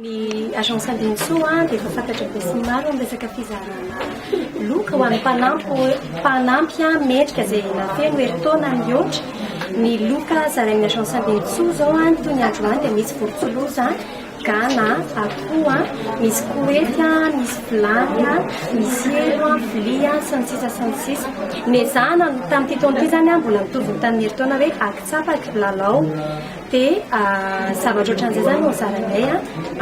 Ny Agence Andinintsoa dia efa fantatra besinimaro amin'ny resaka fizarana loka ho an'ny mpanampy mpanampy mendrika izay nafeno herintaona mihoatra. Ny loka zarain'ny Agence Andinintsoa izao toy ny androany dia misy vorotsiloza, gana, akoho, misy koety, misy vilany, misy helo, vilia sy ny sisa sy ny sisa. Nezahana tamin'ity taona ity izany mbola mitovy ny tamin'ny herintaona hoe akitsapa, kilalao. Dia zavatra ohatran'izay izany no zaranay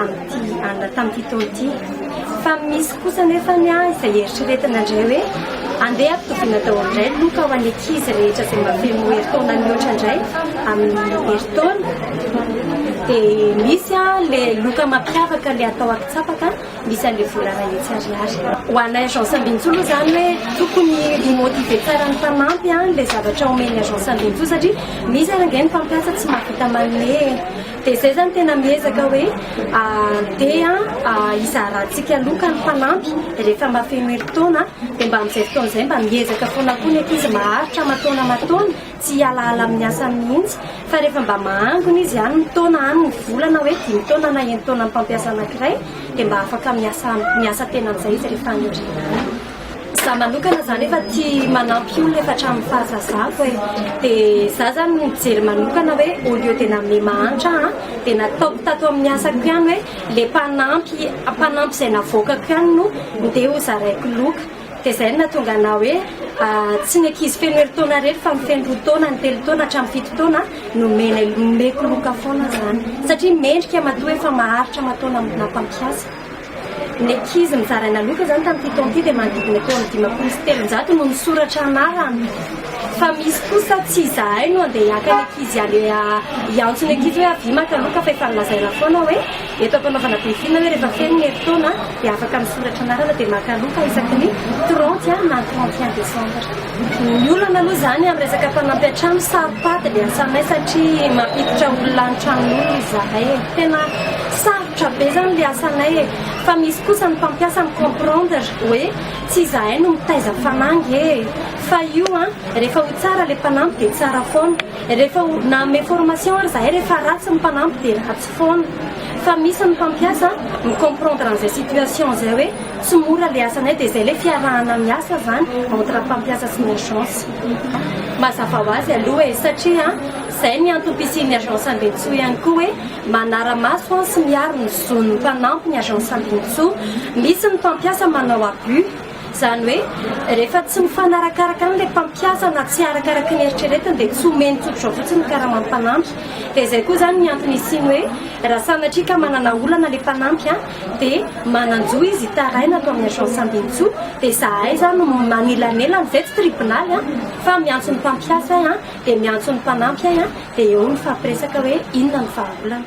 amin'ity alina tamin'ity taona ity. Fa misy kosa anefa izay eritreretina indray hoe andeha ampitoviana daholo indray ny loka ho an'ny ankizy rehetra izay mahafeno herintaona mihoatra indray amin'ny herintaona. Dia misy ilay loka mampiavaka ilay atao akitsapaka. Misy an'le volana etsy ariary. Ho anay agence Ambinintsoa aloha zany hoe tokony hi motiver tsara ny mpanampy an le zavatra omen'ny agence Ambinintsoa satria misy ary ange ny mpampiasa tsy mahavita manome e. Dia zay zany tena miezaka hoe handeha hizaratsika loka ny mpanampy rehefa mahafeno herintaona dia mba amin'izay fotoana izay mba miezaka foana koa ny ankizy maharitra aman-taona aman-taona. Tsy hialahala amin'ny asany mihitsy, fa rehefa mba mahangona izy any ny taona, any ny vola na hoe dimy taona na enin-taonan'ny mpampiasa anankiray, dia mba afaka miasa miasa tena amin'izay izy rehefa any aoriana any. Izaho manokana izany efa tia manampy olona efa hatramin'ny fahazazako e. Dia izaho izany mijery manokana hoe au lieu dia nanome mahantra aho, dia nataoko tato amin'ny asako ihany hoe ilay mpanampy mpanampy izay navoakako ihany no ndeha ho zaraiko loka. Dia izay no nahatonga anah hoe tsy ny ankizy feno herintaona irery fa ny feno roa taona, ny telo taona hatramin'ny fito taona no omena omeko loka foana izany satria mendrika matoa efa maharitra aman-taona amina mpampiasa. Ny ankizy nozaraina loka izany tamin'ity taona ity dia manodidina teo amin'ny dimampolo sy telonjato no nisoratra anarana fa misy kosa tsy izahay no andeha hiaka ny ankizy hiantso ny ankizy hoe avia maka loka fa efa nolazaina foana hoe Eto am-panaovana besinina hoe rehefa feno ny herintaona dia afaka misoratra anarana dia maka loka isaky ny trente na ny trente et un décembre. Ny olana aloha izany amin'ny resaka mpanampy an-trano saropady ny asanay satria mampiditra olona any tranon'olona izahay e. Tena sarotra be izany ilay asanay e. Fa misy kosa ny mpampiasa mi-comprendre hoe tsy izahay no mitaiza ny fanangy e. Fa io an, rehefa ho tsara ilay mpanampy dia tsara foana. Rehefa ho nanome formation ary izahay rehefa ratsy ny mpanampy dia ratsy. foana fa misy ny mpampiasa mi comprendre an'izay situation izay hoe tsy mora le asanay dia izay le fiarahana miasa zany entre mpampiasa sy ny agence mazava ho azy aloha e satria izay ny antom-pisian'ny agence ambinitsoa ihany koa hoe manara-maso an sy miaro ny zon'ny mpanampy ny agence ambinitsoa misy ny mpampiasa manao abus Izany hoe, rehefa tsy mifanarakaraka aminy ilay mpampiasa na tsy arakaraky ny eritreretiny dia tsy omeny tsodrao fotsiny ny karama ny mpanampy. Dia izay koa izany ny antony hisiany hoe, raha sanatria ka manana olana ilay mpanampy an, dia manan-jo izy hitaraina ato amin'ny Agence Andinintsoa, dia izahay izany no manelanelana, izay tsy tribonaly an, fa miantso ny mpampiasa ahy an, dia miantso ny mpanampy ahy an, dia eo mifampiresaka hoe inona ny vahaolana.